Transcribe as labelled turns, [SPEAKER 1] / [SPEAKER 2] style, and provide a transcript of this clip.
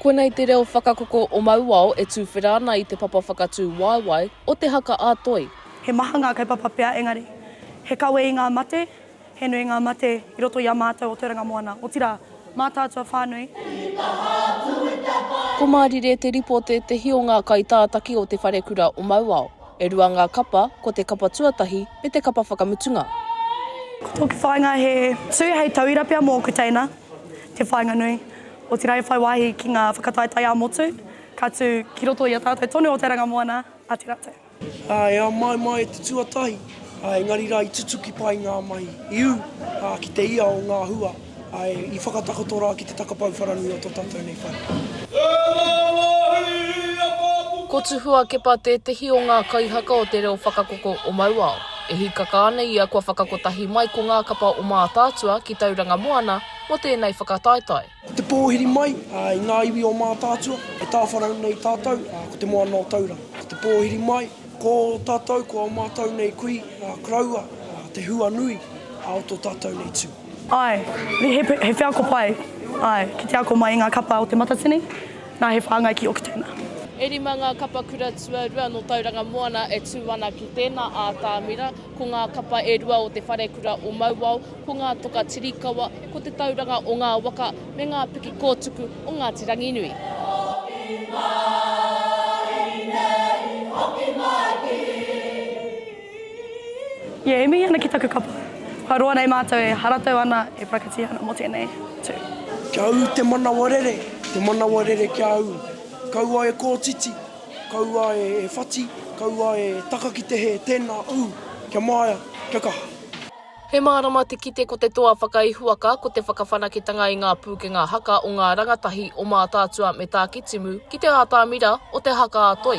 [SPEAKER 1] Konei te reo whakakoko o Mauao e tuwhera ana i te papa whakatū waewae o Te Haka-a-Toi. He maha ngā
[SPEAKER 2] kaupapa pea engari, he kawe i ngā mate, he nui ngā mate i roto i a mātou o Te Ranga Moana, otirā, mā tātua whānui.
[SPEAKER 1] Ko Mārire Te Ripo tētehi o ngā kaitātaki o Te Wharekura o Mauao. E rua ngā kapa, ko te kapa tuatahi me te kapa whakamutunga.
[SPEAKER 2] Tōku whāinga he tū hei tauira pea mōku teina te whāinga nui, otirā e whai wāhi ki ngā whakataetae ā-motu ka tū ki roto i a tātou tonu o te ranga moana a Te Rate. E ao mai mai
[SPEAKER 3] e te tuatahi, engari rā i tutuki pai ngā mahi i ū ki te ia o ngā hua. Ae, i whakatakoto ra ki te takapau wharanui o to tatou nei whare.
[SPEAKER 1] Ko Tuhua Kepa tētehi o ngā kaihaka o te reo whakakoko o Mauao. E hīkaka ana ia kua whakakotahi mai ko ngā kapa o Mātaatua ki Tauranga Moana mō tēnei whakataetae. Ko te pōhiri
[SPEAKER 3] mai i ngā iwi o Mātaatua e tāwharau nei tātou ko Te Moana o Tauranga. Ko te pōhiri mai ko tātou ko ō mātou nei kui koroua te hua nui o tō tātou nei tū. Āe, he,
[SPEAKER 2] he wheako pai, āe, ki te ako mai i ngā kapa o Te Matatini, nā, he whāngai ki Okitena. E rima ngā
[SPEAKER 1] kapa kura tuarua nō Tauranga Moana e tū ana ki tēnā ātamira, ko ngā kapa e rua o Te Wharekura o Mauao, ko ngā toka Tirikawa, ko Te Tauranga o Ngā Waka me ngā piki kōtuku o Ngāti Ranginui. Hoki mai nei, hoki
[SPEAKER 2] mai ki. Yeah, e mihi ana ki taku kapa. Kua roa nei mātou e haratau ana, e parakatia ana mō tēnei tū. Kia ū te
[SPEAKER 3] manawa rere, te manawa rere kia ū. Kaua e kōtiti, kaua e whati, kaua e taka ki te hē, tēnā ū, kia māia, kia kaha. He mārama
[SPEAKER 1] te kite ko te toa whakaihuwaka ko te whakawhanaketanga i ngā pūkenga haka o ngā rangatahi o Mātaatua me Tākitimu ki te ātamira o te haka a Toi.